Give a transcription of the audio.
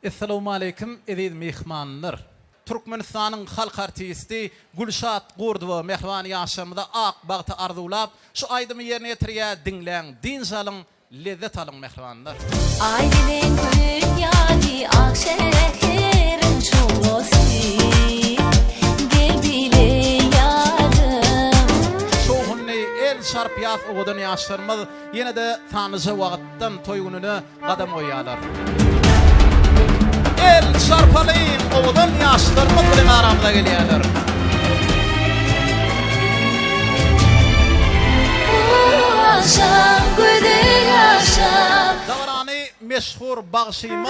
Essalawmaleýkim eziz myhmanlar! Türkmenistanyň halk artisti Gülşat Gurdowa mähriban ýaşlarymyza ak bagty arzuwlap, şu aýdymy ýerine ýetirýä, diňläň, dynç alyň, lezzet alyň mähribanlar! Aý bilen gün ýaly ak şäheriň şowhunly, gel bile ýarym. Şowhunly, el çarp ýas owadan ýaşlarymyz ýene-de sanlyja wagtdan toý gününe, gadam goýýarlar. El çarpalyň owadan ýaşlarymyz bilen aramyza gelýärler. Dabarany meşhur bagşymyz